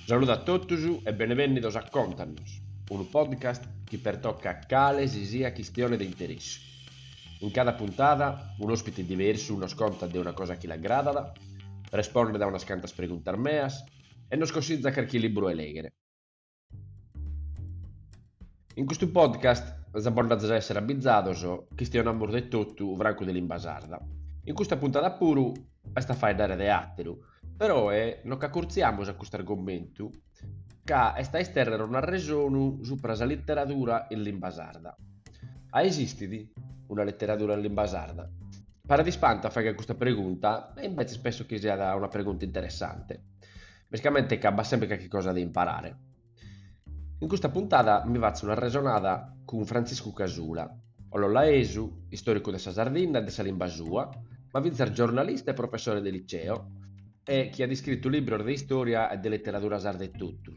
Saludu a totus e benevènnidos a Contanos, unu podcast chi pertocat cale si siat chistione de interessu. In cada puntada un'òspite diversu nos contat de una cosa chi l'agradat, respondet a unas cantas preguntas meas e nos consitzat carchi libru 'e lèghere. In custu podcast si nd'azis a essere abizados, chistionamus de totu francu de limba sarda. In custa puntada puru est a faeddare de àteru, peroe nos ch'acurtziamus a custu argomentu ca est a istèrrere un'arresonu supra sa literadura in limba sarda. A esistit una literadura in limba sarda? Paret ispantu a fagher custa pregunta e imbetzes penso chi siat una pregunta interessante. Mescamente ca b'at semper calchi cosa de imparare. In custa puntada mi fatzo un'arresonada cun Frantziscu Casula, ollolaesu, istòricu de sa Sardinna e de sa limba sua, ma fintzas giornalista e professore de liceo, e chi at iscritu libros de istòria e de literadura sarda etotu,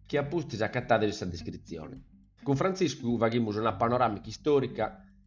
chi a pustis acatades in sa descritzione. Cun Frantziscu faghimus una panoràmica istòrica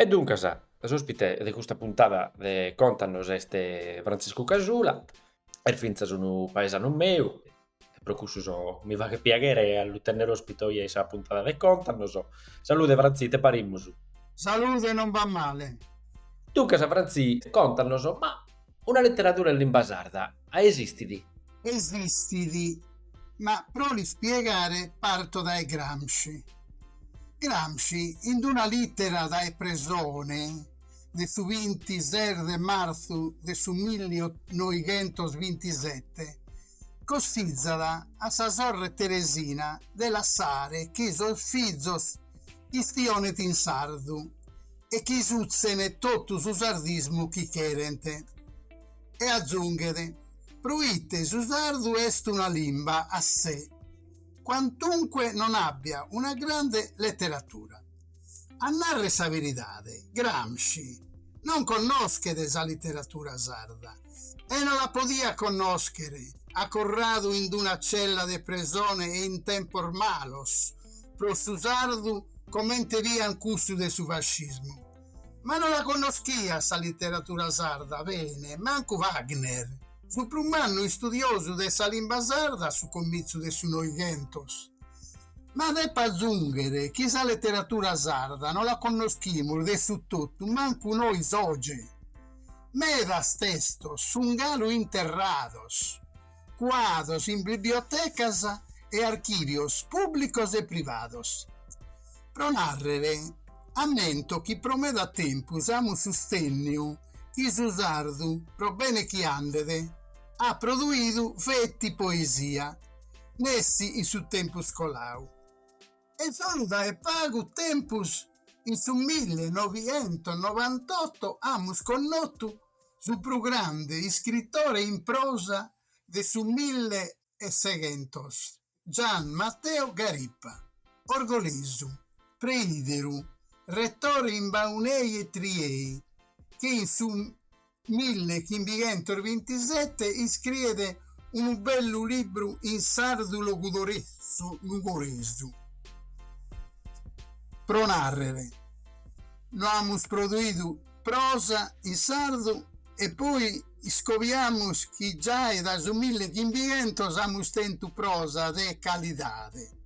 E duncas, s'ospite de custa puntada de Contanos est Frantziscu Casula, est fintzas unu paesanu meu e pro cussu so, mi faghet piaghere a lu tennere ospite oje in sa puntada de Contanos. Salude Frantzì, ite parimus? Salude, non b'at male. Duncas Frantzì, contanos, ma una leteradura in limba sarda a esistit? Esistit, ma pro l'ispiegare parto dae Gramsci. Gramsci in una lìtera dae presone de su bintises de martzu de su milli noighentos bintisete cossizat a sa sorre Teresina de lassare chi sos fizos istionent in sardu e chi sutzen totu su sardismu chi cherent. E azunghet, Pro ite su sardu est una limba a se, quantunque non abbia una grande letteratura. A narrer sa beridade, Gramsci non connoschet sa literatura sarda e non la podiat connoscher, acorradu in d-una cella de presone e in tempos malos pro su sardu comente fiant cussos de su fascismu, ma non la connoschiat sa literatura sarda bene mancu Wagner. Su prus mannu istudiosu de sa limba sarda a su comitzu de su Noighentos. Ma depo azunghere chi sa leteratura sarda no la connoschimus de su totu mancu nois oge. Medas testos sun galu interrados, cuados in bibliotecas e archìvios pùblicos e privados. Pro nàrrere, ammento chi pro meda tempus amus sustènniu chi su sardu, pro bene chi andet, at produidu feti poesia, nessi in su tempus colau, e solu dae pagu tempus, in su milli e novientos novantotto, amus connotu su prus grande iscritore in prosa de su milli e seghentos. Gian Matteo Garipa, orgolesu, preìderu, retore in Baunei e Triei, chi in su mille chimbighentos bintisete iscriet unu bellu libru in sardu logudoresu, nugoresu, pro nàrrere, no amus produidu prosa in sardu e poi iscobiamus chi giai dae su millechimbientos amus tentu prosa de calidade.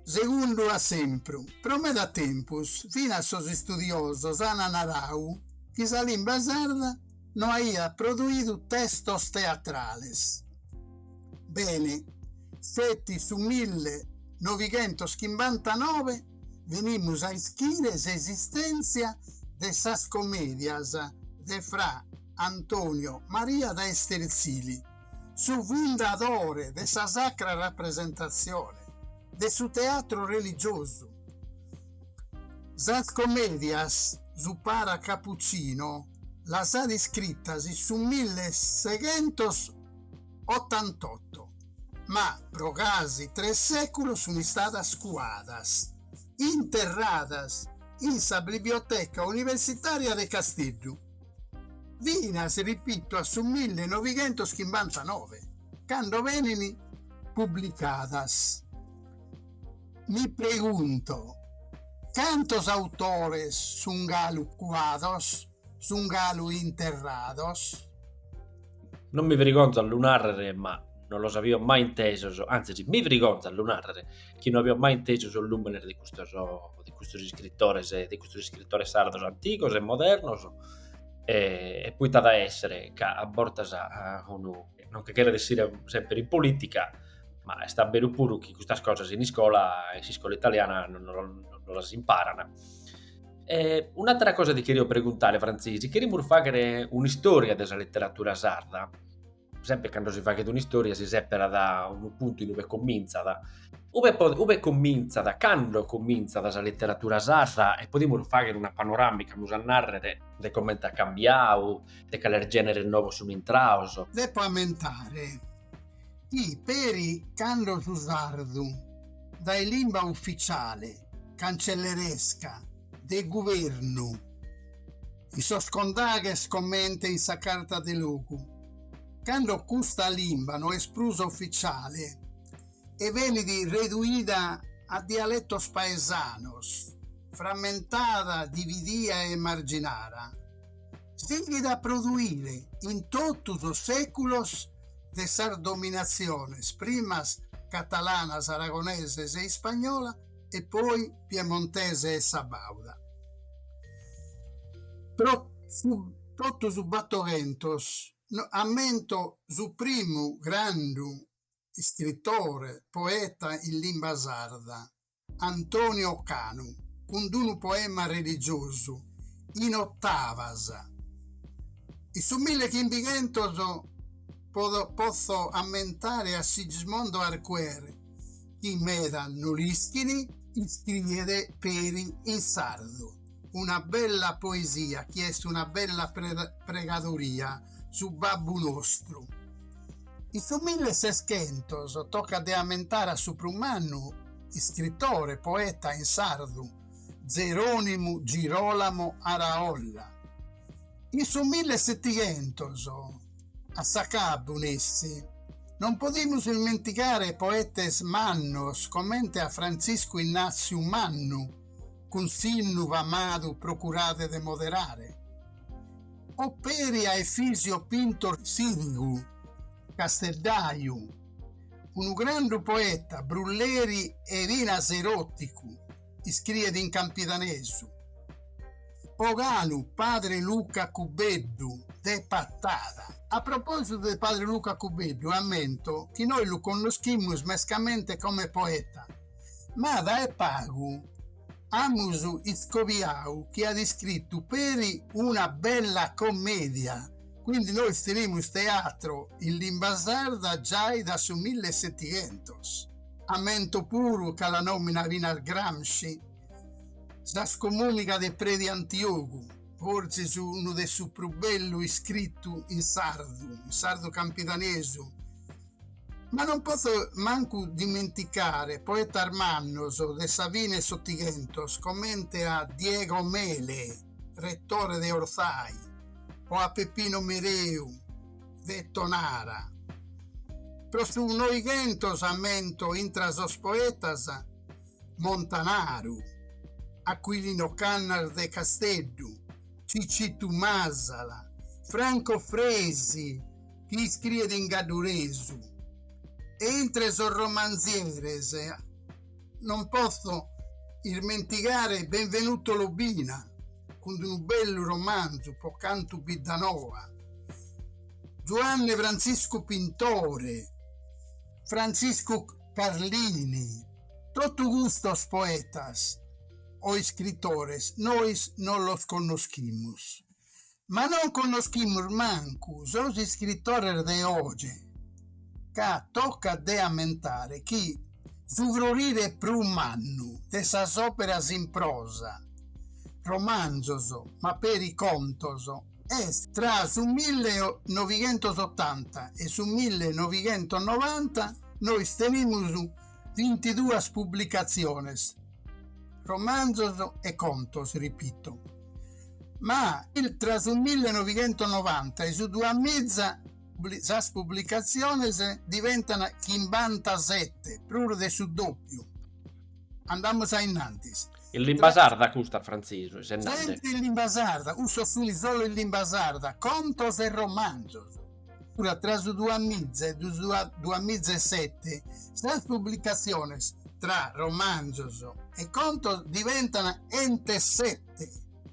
Segundu esempru, pro meda tempus finas sos istudiosos ant naradu chi sa limba sarda no aiat produidu testos teatrales. Bene, feti su millenovighentoschimbantanobe benimus a ischire s'esistèntzia de sas comèdias de Fra Antonio Maria da Esterzili, su fundadore de sa Sacra Rapresentatzione, de su teatru religiosu. Sas comèdias su para capucino las at iscritas in su milleseghentosotantotto. ma pro casi tres sèculos sunt istadas cuadas, interradas in sa Biblioteca Universitària de Casteddu, finas, ripito, a su mille novighentos chimbantanove, cando benint publicadas. Mi pregunto, cantos autores sunt galu cuados? sun galu interrados. Non mi frigonzo a lu narrere, ma non los avio mai intesos, anzis mi frigonzo a lu narrere, chi non avio mai intesu sos lùmenes de custos, de custos iscritores, de custos iscritores sardos antigos e modernos, e, e poita at a essere ca a bortas unu non che cheret essire sempre in politica, ma est a beru puru chi custas cosas in iscola, in s'iscola italiana, non, non, non las imparan. E un'àtera cosa ti cherio preguntare, Frantzesi, cherimus fàghere un'istòria de sa literatura sarda, semper cando si faghet un'istòria si sèperat unu puntu in ue comintzat, ue ue comintzat, cando comintzat sa literatura sarda e podimus fàghere una panoràmica, amus a nàrrere, de comente at cambiadu, de cales gèneres novos sunt intrados. Depo ammentare chi peri cando su sardu dae limba ufitziale cancelleresca, de guvernu, in sos condaghes comente in sa carta de logu, cando custa limba no est prus ufitziale e benit reduida a dialetos paesanos, frammentada, dividia e marginada. sighit a produire in totu sos sèculos de sas dominatziones primas catalanas aragoneses e ispagnola e poi piemontese e sabauda. Pro su totu su Battochentos ammento su primu grandu iscritore, poeta in limba sarda, Antonio Canu cun d'unu poema religiosu, in ottavas. In su milli chimbighentos potzo ammentare a Sigismondo Arquer, chi meda no l'ischin, iscriet peri in sardu. una bella poesia chi est una bella pregadoria, su babbu nostru. In su milleseschentos tocat de ammentare a su prus mannu iscritore, poeta in sardu, Zeronimu Girolamo Araolla. In su millesetighentos, a s'acabbu, nessi, non podimus ismentigare poetes mannos comente a Frantziscu Innaziu Mannu, cun s'innu famadu procurade de moderare, o peri a Efisio Pintor Sirigu, Casteddaju, unu grandu poeta, brulleri e finas eroticu, iscriet in campidanesu. O galu Padre Luca Cubeddu, de Patada. A propositu de Padre Luca Cubeddu, ammento chi nois lu connoschimus mescamente come poeta, ma dae pagu amus iscobiau chi at iscritu peri una bella commedia, quindi nois tenimus teatro in limba sarda giai da su mille e setighentos. Ammento puru ca la nominat finas Gramsci sa scomunica de Predi Antiogu, fortzis unu de su prus bellu iscritu in sardu, in sardu campidanesu, Ma non potzo mancu dimenticare poetas mannos de sa fine 'e s'Otighentos comente a Diego Mele, retore de Orzai, o a Peppino Mereu, de Tonara. Pro su Noighentos ammento intra sos poetas Montanaru, Aquilino Cannas de Casteddu, Cicittu Masala, Franco Fresi, chi iscriet in gadduresu e intre sos romanzieres non potzo ismentigare Benvenuto Lobina cun unu bellu romanzu Po cantu Biddanoa, Zuanne Frantziscu Pintore, Frantziscu Carlini, totu custos poetas o iscritores nois non los connoschimus. Ma non connoschimus mancu sos iscritores de oge, ca tocat de ammentare chi su frorire prus mannu de sas òperas in prosa, romanzos ma peri contos, est tra su millenovighentosottanta e su millenovighentonovanta, nois tenimus bintiduas publicatziones, romanzos e contos, ripito. ma intra su millenoighentonovanta e su duamiza sas publicatziones diventan chimbantasete, prus de su dòpiu. Andamus a innantis. In limba sarda custa, Frantzisu, e sennadde. Semper in limba sarda, cussos sunt solu in limba sarda, contos e romanzos. Fiat tra su duamiza e duamiza e sete sas publicatziones tra romanzos e contos diventan chentu e sete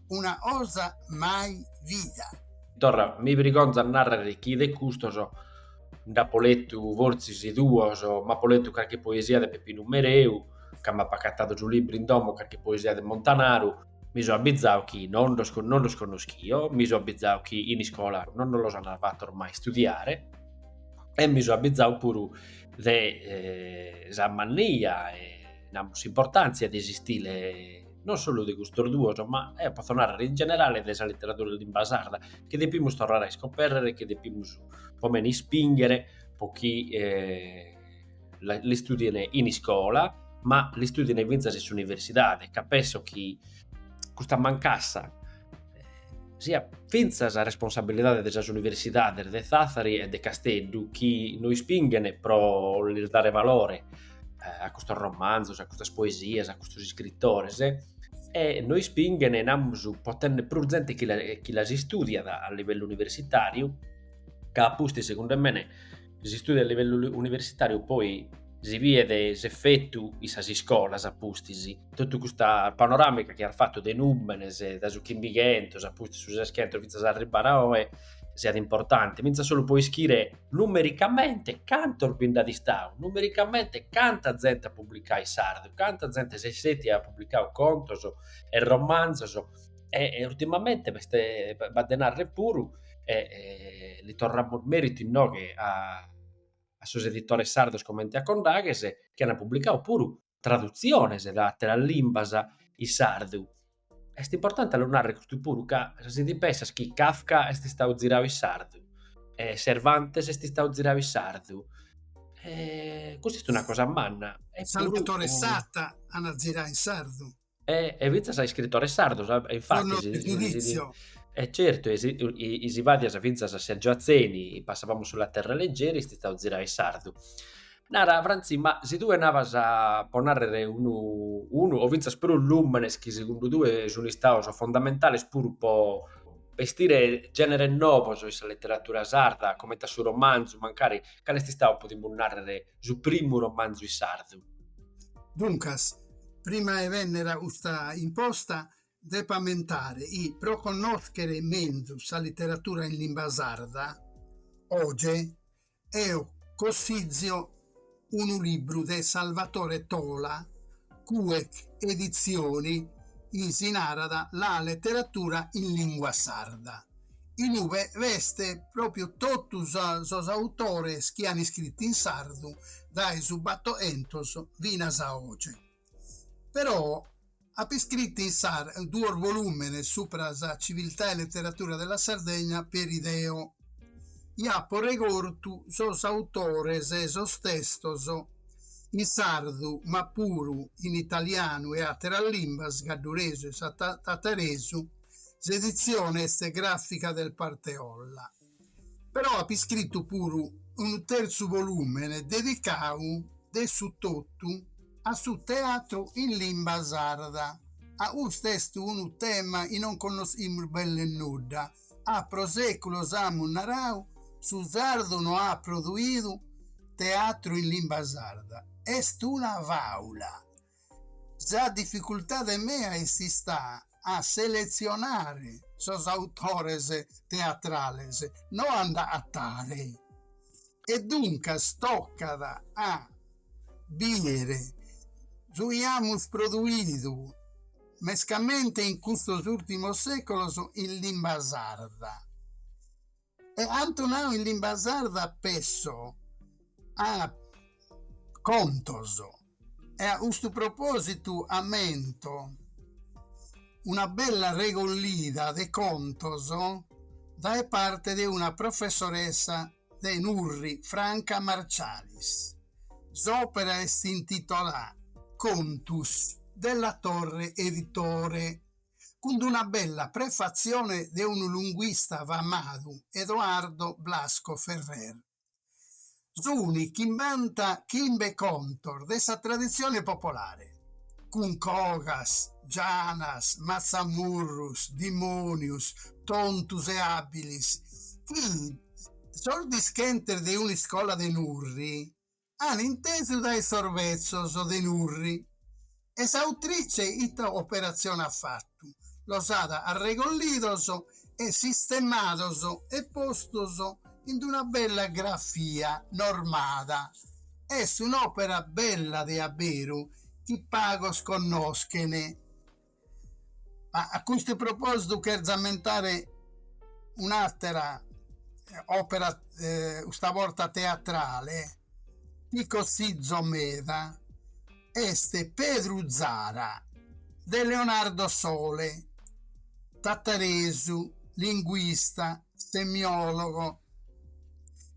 una cosa mai vida. Torra, mi brigonzo a narrere chi de custos nd'apo letu fortzis duos, m'apo letu carchi poesia de Peppinu Mereu, ca m'apo acatadu su libru in domo, carchi poesia de Montanaru, mi so abbizau chi non los, non los connoschio, mi so abbizau chi in iscola non los an fattos mai studiare e mi so abbizau puru de eh, sa mannia e namus s'importàntzia de s'istile non solu de custos duos, ma eo potzo narrer in generale de sa literadura in limba sarda, chi depimus torrare a iscoperrer e chi depimus po mene ispinghere po chi eh, l'istùdien in iscola, ma l'istùdien fintzas in s'universidade, ca penso chi custa mancassa eh, siat fintzas responsabilidade de sas universidades de Thathari e de Casteddu chi no ispinghen pro lis dare valore eh, a custos romanzos, a custas poesias, a custos iscritores e no ispinghen, namus, pro tenner prus zente chi, la, chi las istùdiat a livellu universitàriu, ca a pustis, segundu mene, is istùdios a livellu universitàriu poi si bidet s'efetu in sas iscolas a pustis, totu custa panoràmica chi as fatu de nùmenes, dae su chimbighentos a pustis su seschentos fintzas a arribare a oe, siat importanti, fintzas solu pro ischire numericamente cantos bi nd'at istadu, numericamente canta zente at publicadu in sardu, canta zente s'est, at publicadu contos e romanzos e, e ultimamente b'est, b'at de narrer puru, e, e li torramus meritu inoghe a a sos editores sardos comente a Condaghes, chi at publicadu puru tradutziones dae atteras limbas in sardu. Est importante a lu narrer custu puru ca si ti pensas chi Kafka est istadu ziradu in sardu, e Cervantes est istadu ziradu in sardu, e custa est una cosa manna. E puru Salvatore Satta an ziradu in sardu. E, e fintzas a iscritores sardos, a, e infatis... Il giorno del giudizio. E eh, certu, e si, i, i si fadias fintzas a Sergio Atzeni, Passavamo sulla terra leggeri, est istadu ziradu in sardu. Nara, Franzi, ma si tue nabas a, pro narrer unu, unu, o fintzas prus lumenes chi segundu tue sun istados fondamentales puru po bestire generes novos in sa letteratura sarda, comente a su romanzu, mancari, cal'est istadu, podimus narrer, su primu romanzu in sardu? Duncas, prima 'e bènnere a custa risposta, depo ammentare chi pro connòschere menzus sa leteratura in limba sarda, oge, eo cossizio unu libru de Salvatore Tola, Cuec Editzioni, chi si narat La letteratura in lingua sarda. In ue b'est pròpiu totu sos autores chi an iscritu in sardu dae su Battoentos finas a oge. Eo apo iscritu in sardu duos volùmenes subra sa civiltà e leteratura de la Sardegna peri deo. Bi apo regortu sos autores e sos testos in sardu ma puru in italianu e àteras limbas, gadduresu e tataresu, S'edizione est gràfica del Parteolla, però apo iscritu puru unu terzu volùmene dedicadu de su totu a su teatru in limba sarda. Ca custu est unu tema chi non connoschimus belle nudda, ca pro sèculos amus naradu chi su sardu no at produidu teatru in limba sarda, est una fàula. Sa dificultade mea est istada a seletzionare sos autores teatrales, no a nd'agatare, e duncas tocat a bìdere su chi amus produidu, mescamente in custos ùrtimos sèculos, in limba sarda. chi ant nau in limba sarda pesso a contos e a custu propositu ammento una bella regollida de contos dae parte de una professoressa de Nurri, Franca Marcialis, s'opera est intitolada Contus della Torre Editore. cun d'una bella prefatzione de unu lunguista famau, Edoardo Blasco Ferrer. Sunt chimbanta chimbe contos de sa traditzione popolare, cun cogas, gianas, matzamurrus, dimònius, tontus e àbilis, chi sos dischentes de un'iscola de Nurri an intesu dae sos betzos de Nurri e s'autrice ita operatzione at fatu, los at arregollidos e sistemados e postos in d'una bella grafia normada. Est un'òpera bella de a beru chi pagos connoschen. Ma a custu propositu cherzo ammentare un'atera opera custa borta teatrale chi cossizo meda est Pedru Zara de Leonardo Sole, tataresu, linguista, semiologo,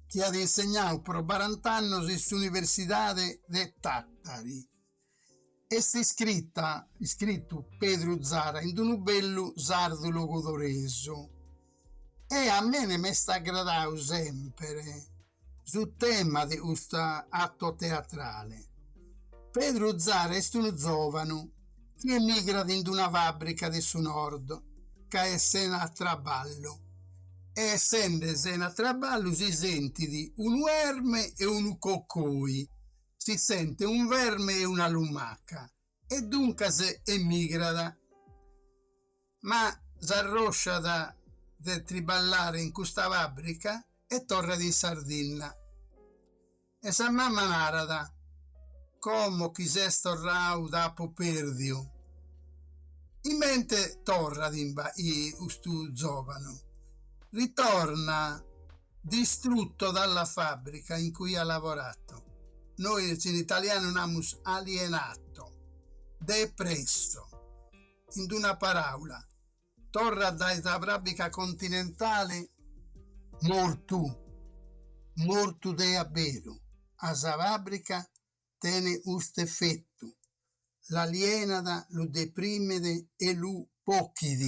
chi at insegnau pro barant'annos in s'universidade de Tàtari Est iscrita, iscritu Pedru Zara in d'unu bellu sardu logodoresu e a mene m'est agradau semper su tema de custu atto teatrale. Pedru Zara est unu zòvanu chi emigrat in d'una fàbrica de su Nord ca est sena traballu e essende sena traballu si sentit unu erme e unu cocoi si sente un verme e una lumaca e duncas emigrat. Ma s'arrosciat de triballare in custa fàbrica e torrat in Sardinna. E sa mama narat, Como chi ses torrau t'apo pèrdiu! In mente torrat imbas custu zòvanu, ritorna. Distrutto dalla fabbrica in cui ha lavorato, nois in italianu namus alienato, depresso, in d'una paràula, torrat dae sa fàbbrica continentale mortu, mortu de abberu, a sa fabbrica tene custu efetu, l'alienat, lu deprimet e lu bochit,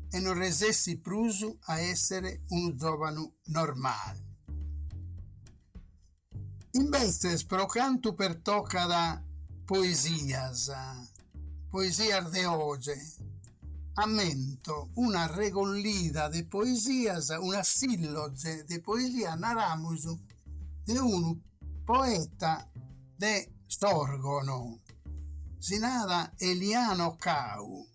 e non resessit prus a èssere unu zòvanu normale. Imbetzes, pro cantu pertocat poesias, poesias de oge, ammento una regollida de poesias, una sìlloge de poesias, naramus, de unu poeta de Sòrgono, si narat Eliano Cau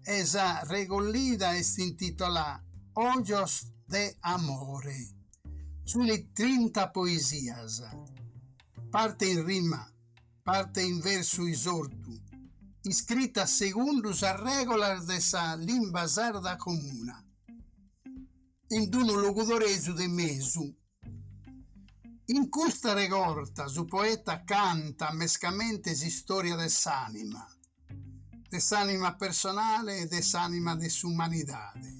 e sa regollida est intitolà Ojos de amore. Sunt trinta poesias, parte in rima, parte in versu isortu, iscritas segundu sas règulas de sa limba sarda comuna, in unu logudoresu de mesu. In custa regorta su poeta cantat mescamente s'istòria de s'ànima, de s'ànima personale e de s'ànima de s'umanidade,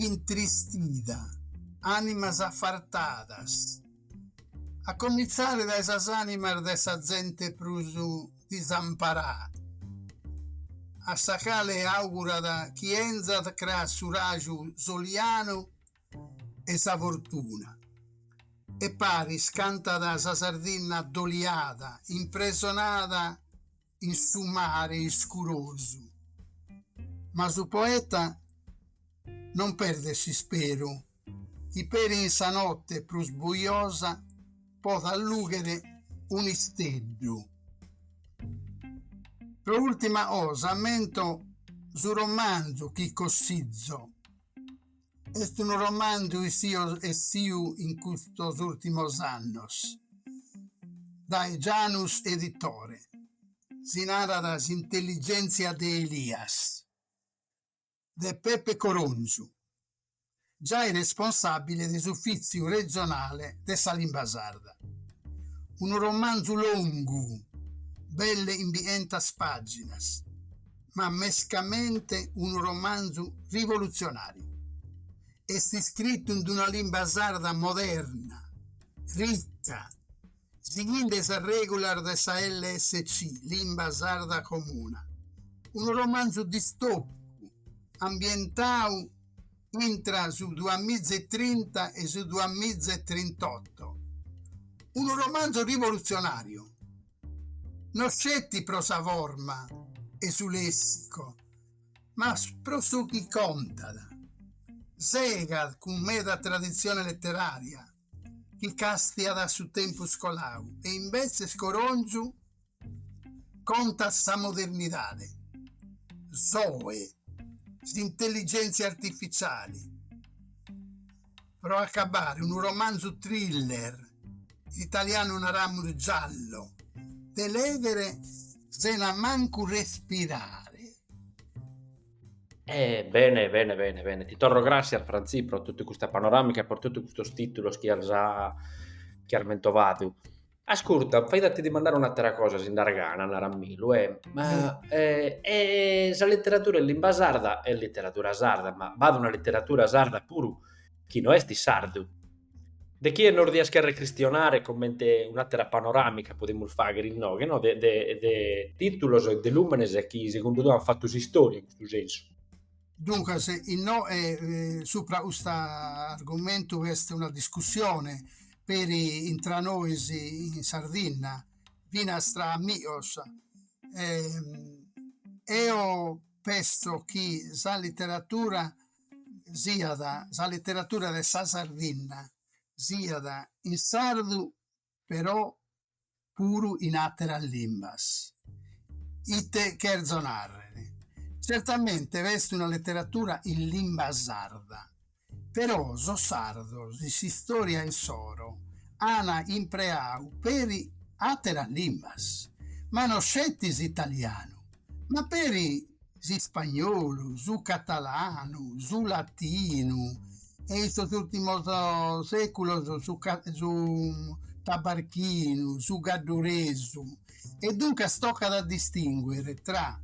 intristida, ànimas afartadas, a comintzare dae sas ànimas de sa zente prus disamparada, a sa cale àugurat chi 'enzat cras su raju solianu e sa fortuna. E paris cantat sa Sardinna addoliada, impresonada in su mare iscurosu. Ma su poeta non perdet s'isperu chi peri in sa notte prus bujosa podat lughere un'isteddu. Pro ultima 'osa ammento su romanzu chi cossizo est unu romanzu essiu in custos ùrtimos annos dae Janus Editore, si narat S'intelligèntzia de Elias de Pepe Coròngiu, giai responsàbile de s'Ufìtziu Regionale de sa Limba Sarda. Unu romanzu longu, belle 'imbi'entas pàginas. ma mescamente unu romanzu rivolutzionàriu. Est iscritu in una limba sarda moderna, rica, sighende sas règulas de sa LSC, Limba Sarda Comuna, unu romanzu distòpicu ambientadu intra su duamiza e trinta e su duamiza e trintoto. Unu romanzu rivolutzionàriu, no sceti pro sa forma e su lèssicu, ma pro su chi contat. Segat cun meda traditzione leterària chi càstiat a su tempus colau e imbetzes coronzu, Contat sa modernidade, s'oe, s'intelligèntzia artificiali, pro acabare, unu romanzu thriller, in italianu naramus giallo, de lèghere sena mancu respirare. E bene bene bene bene, ti torro gràssias Frantzì pro totu custa panoràmica e pro totu custos tìtulos chi as chi as mentovadu. Ascurta, fait a ti dimandare un'atera cosa, si nd'as gana, naramilu, ma sa literatura in limba sarda est literatura sarda, ma b'at una literatura sarda puru chi no est in sardu. De chie nos dias cherrer chistionare comente un'atera panoramica podimus fagher inoghe no de de de titulos e de lumenes chi segundu tue an fatu s'istòria in custu sensu Duncas, innoe supra custu argumentu b'est una discussione, peri intra nois in Sardinna, finas tra amigos. Eo penso chi sa literatura siat, sa literatura de sa Sardinna siat in sardu però puru in àteras limbas. Ite cherzo nàrrere? Tzertamente b'est una leteratura in limba sarda, però sos sardos in s'istòria insoro an impreadu peri àteras limbas, ma no sceti s'italianu, ma peri s'ispagnolu, su catalanu, su latinu e in sos ùrtimos sèculos su su tabarchinu, su gadduresu e duncas tocat a distinguere tra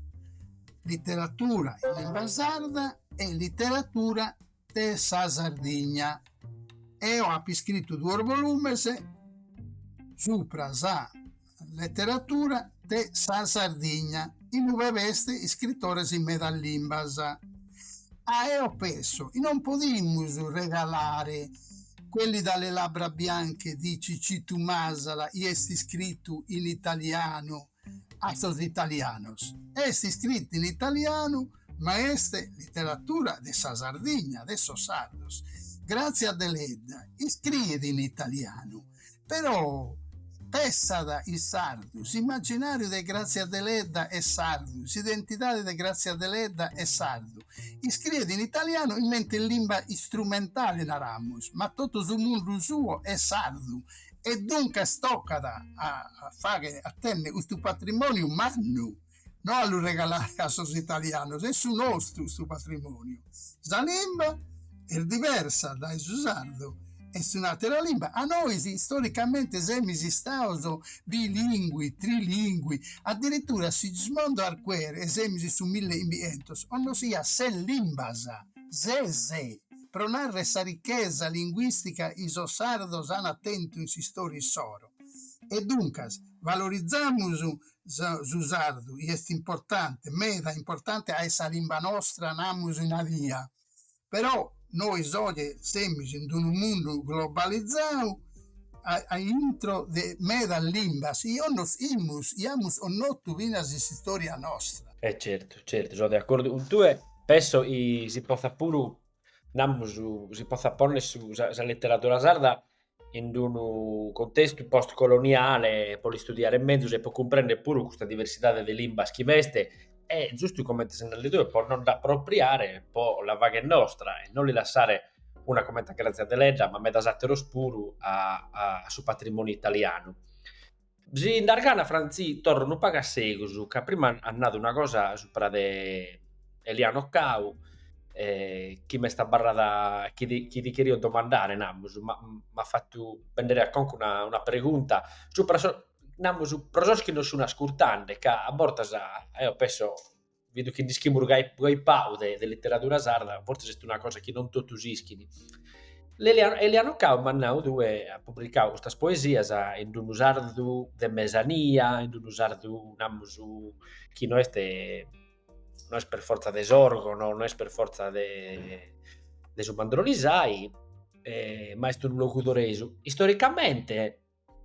literatura in limba sarda e literatura de sa Sardigna. Eo apo iscritu duos volumes supra sa leteratura de sa Sardigna, in ue b'est iscritores in medas limbas. Eo penso chi non podimus regalare quelli dalle labbra bianche di Cicitu Masala chi est iscritu in italianu, a sos italianos, est iscrita in italianu ma est literatura de sa Sardigna, de sos sardos. Grazia Deledda iscriet in italianu, però pessat in sardu, s'imaginàriu de Grazia Deledda est sardu, s'identidade de Grazia Deledda est sardu, iscriet in italianu comente limba istrumentale, naramus, ma totu su mundu suo est sardu, E duncas tocat a fagher, a tenner custu patrimòniu mannu, no a lu regalare a sos italianos, est su nostru custu patrimòniu. Sa limba est diversa dae su sardu, est un'àtera limba, ma nois istoricamente semus istados bilingui, trilingui, addirittura Sigismondo Arquer, e semus in su mille e chimbichentos, connoschiat ses limbas, ses. Pro narrer sa ricchesa linguistica chi sos sardos ant tentu in s'istòria issoro. E duncas, valorizamus su sardu chi est importante, meda importante ca est sa limba nostra, namus nadia. Però nois oje semus in d'unu mundu globalizadu aintro de medas limbas chi connoschimus, chi amus connotu finas in s'istòria nostra. E certu, certu, so de acordu cun tue. Penso chi si potzat puru, namus, si potzat ponner su sa literadura sarda in unu contestu post coloniale pro l'istudiare mezus e pro cumprender puru custa diversidade de limbas chi b'est e giustu comente ses nande tue pro nos nd'apropriare e pro la fagher nostra e non li lassare una comente a Grazia Deledda ma medas àteros puru a su patrimoniu italianu. Si nd'as gana Frantzì torro unu pagu a segus ca prima as nadu una cosa supra de Eliano Cau e chi m'est abarrada chi ti chi ti cherio domandare namus, ma m'at fatu bènnere a conca una una pregunta supra sos namus pro sos chi nos sun ascurtende ca a bortas eo penso vidu chi nd'ischia puru gai, gai pau de, de literadura sarda, fortzis est una cosa chi non totus ischin. Eliano, Eliano Cau m'as nau tue, at publicau custas poesias in unu sardu de mesania, in unu sardu, namus, chi no est, no est per fortza de Sòrgono, no est per fortza de, de su Mandrolisai, e, ma est unu logudoresu. Istoricamente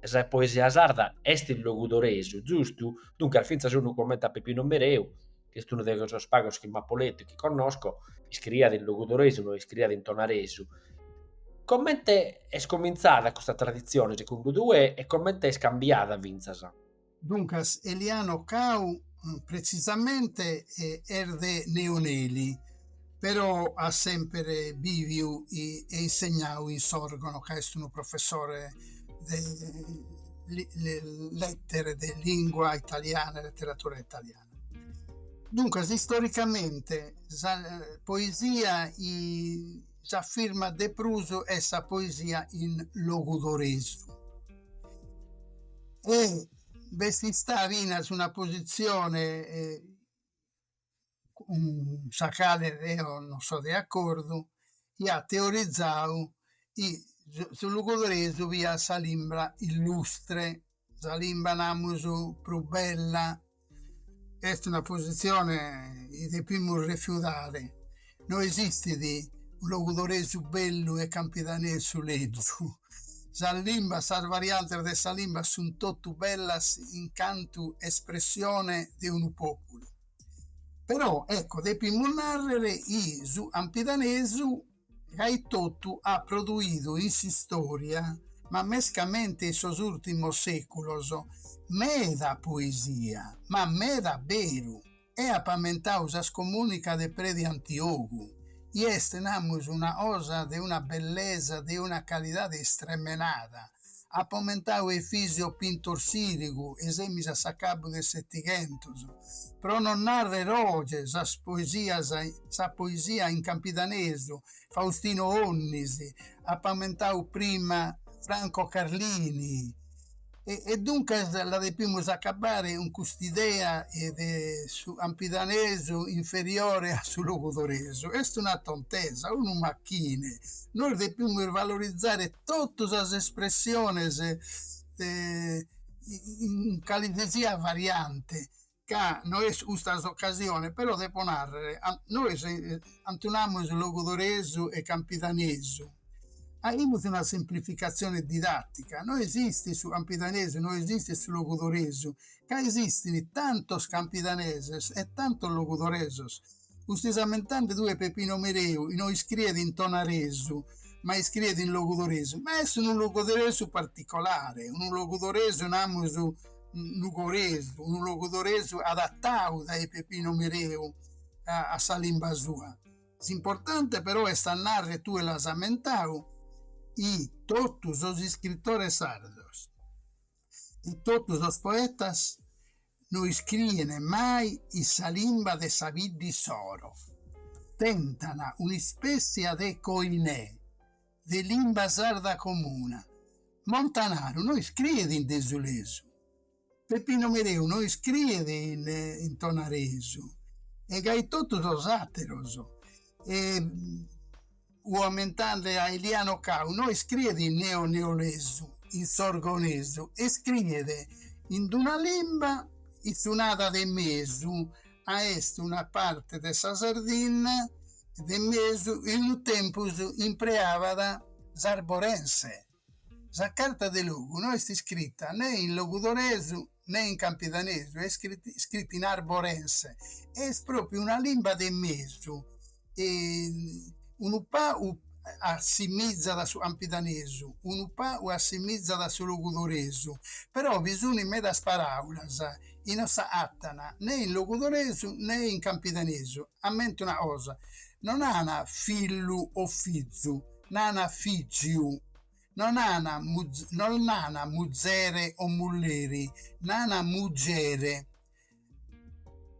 Sa poesia sarda est in logudoresu, giustu? Duncas fintzas unu comente a Pipinu Mereu, chi est unu de sos pagos chi m'apo letu e chi connosco, iscriiat in logudoresu, no iscriiat in tonaresu. Comente est comintzada custa traditzione segundu tue e comente est cambiada fintzas? Duncas Eliano Cau pretzisamente est de Neoneli, però at semper bìviu e insegnau in Sòrgono ca est unu professore de lètere de lìngua italiana e leteratura italiana. Duncas, istoricamente, sa poesia chi s'afirmat de prus est sa poesia in logudoresu e b'est istada finas una positzione cun sa cale deo non so de acordu, iat teorizadu chi su logudoresu fiat sa limba illustre Sa limba, namus, prus bella est una posizione chi depimus refiudare, no esistit unu logudoresu bellu e campidanesu lezu, sas limbas, sas variantes de sa limba sun totu bellas in cantu espressione de unu populu, però ecco depimus narrer chi su campidanesu ca etotu at produidu in s'istòria, ma mescamente in sos ùrtimos sèculos, meda poesia, ma meda a beru, e apo amentadu sa scomùnica de predi Antiogu, chi est, namus, una cosa de una bellesa, de una calidade istremenada, Apo amentau Efisio Pintor Sirigu, e semus a s'acabu de setighentos, pro non narrer oge sas poesias, sa poesia in campidanesu, Faustino Onnis, apo amentau prima Franco Carlini, e e duncas la depimus acabare cun cust'idea de su campidanesu inferiore a su logudoresu. Est una tontesa, unu machine, nois depimus valorizare totu sas espressiones in calesisiat variante, ca no est custa s'ocasione, però depo nàrrere, nois cantu namus logudoresu e campidanesu, faimus una semplificatzione didatica, no esistit su campidanesu, no esistit su logudoresu, ca esistint tantos campidaneses e tantos logudoresos Custu ses ammentande tue Peppino Mereu chi no iscriet in tonaresu ma iscriet in logudoresu ma est unu logudoresu particolare unu logudoresu namus nugoresu unu logudoresu adattau dae Peppino Mereu a sa limba sua s'importante però est a narrer tue l'as ammentau chi tottu sos iscrittores sardos e totu sos poetas no iscrien mai in sa limba de sa bidda issoro, tentan un'ispètzia de koiné de limba sarda comuna. Montanaru no iscriet in desulesu, Peppino Mereu no iscriet in tonaresu e gai totu sos àteros. Ammentande a Eliano Cau no iscriet in neonelesu, in sorgonesu, e iscriet ind una limba itzunada de mesu ca est una parte de sa Sardinna de mesu e unu tempus impreabat s'arborense. Sa carta de logu no est iscrita nen in logudoresu nen in campidanesu, est iscrita in arborense e est pròpriu una limba de mesu, unu pagu assimizat a su campidanesu, unu pagu assimizat a su logudoresu, però bi sunt medas paràulas chi no s'agatan nen in logudoresu nen in campidanesu, ammento una cosa, non nan fillu o fizu Nan fìgiu, no nan no nan muzere o mulleri, nan mugere.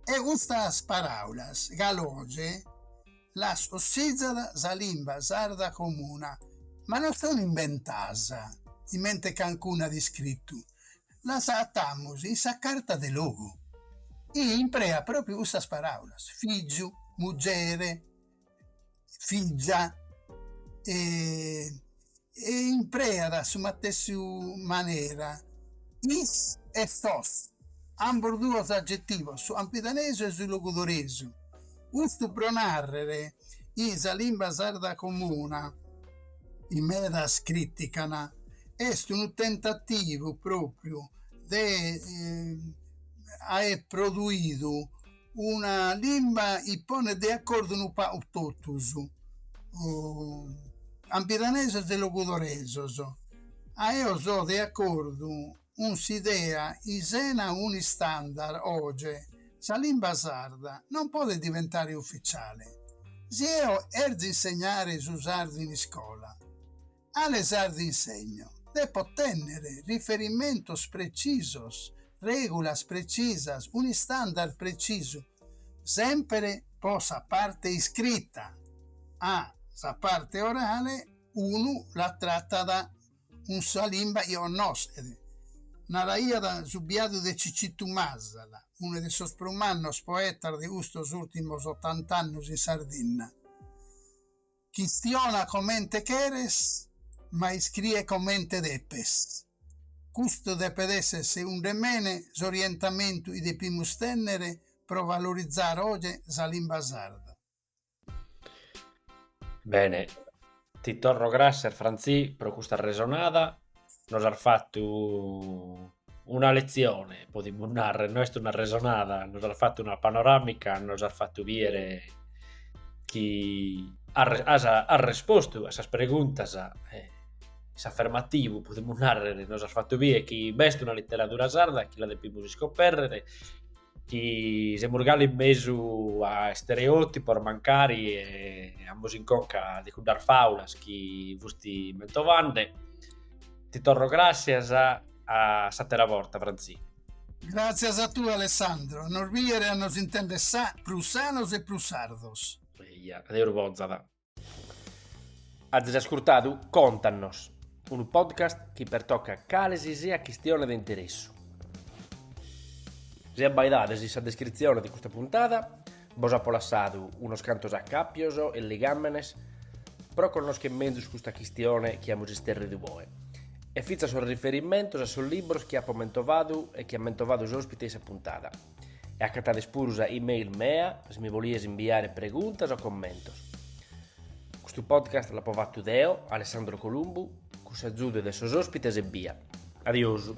E custas paràulas ca oge las cossizat sa limba sarda comuna, ma no sunt imbentadas comente cancunu at iscritu, las agatamus in sa carta de logu. Impreat pròpriu custas paràulas, fìgiu, mugere, fìgia e impreat a sa matessi manera is e sos, ambos duos agetivos, su campidanesu e su logudoresu, custu pro nàrrere chi sa limba sarda comuna, chi medas crìtican, est unu tentativu pròpriu de aer produidu una limba chi ponet de acordu unu pagu totus, campidanesos e logudoresos, ca eo so de acordu cun s'idea chi sena unu istandard oge sa limba sarda non podet diventare uficiale. Si eo 'erzio insegnare su sardu in iscola, Cale sardu insegno? Depo tènnere riferimentos pretzisos, règulas pretzisas, unu istandard pretzisu, sèmpere pro sa parte iscrita. A sa parte orale unu la tratat cun sa limba chi connosket, naraiat su biadu de Cicitu Masala, unu de sos prus mannos poetas de custos ùrtimos otant'annos in Sardinna. Chistiona comente cheres, ma iscrie comente depes. Custu depet èssere segundu mene s'orientamentu chi depimus tènnere pro valorizare oje sa limba sarda. Bene, ti torro gràssias Frantzì pro custa resonada. nos has fattu una letzione, podimus narrer, no est una resonada, nos has fattu una panoramica, nos has fattu bider chi has, has respostu a sas preguntas in s'afermativu, podimus narrer, nos has fattu bider chi b'est una literadura sarda chi la depimus iscoperrer Chi semus galu in mesu a stereotipos mancari e amus in conca de cuddas fàulas chi fusti mentovande. Ti torro gràssias, a s'àtera borta Frantzì. Gràtzias a tie Alessandro, a nos bìere a nos intender prus sanos e prus sardos. Eja, Deus bozat. Azis ascurtadu Contannos, unu podcast chi pertocat cale si siat chistione de interessu. Si abbaidades in sa descritzione de custa puntada, bos apo lassadu unos cantos acàpios e ligàmenes pro connoschere menzus custa chistione chi amus isterridu oe, e fintzas sos riferimentos a sos libros chi apo mentovadu e chi at mentovadu s'òspite in sa puntada. E acatades puru sa email mea si mi bolies imbiare preguntas o commentos. Custu podcast l'apo fattu deo, Alessandro Columbu, cun s'agiudu de sos ospites ebbia. Adiosu.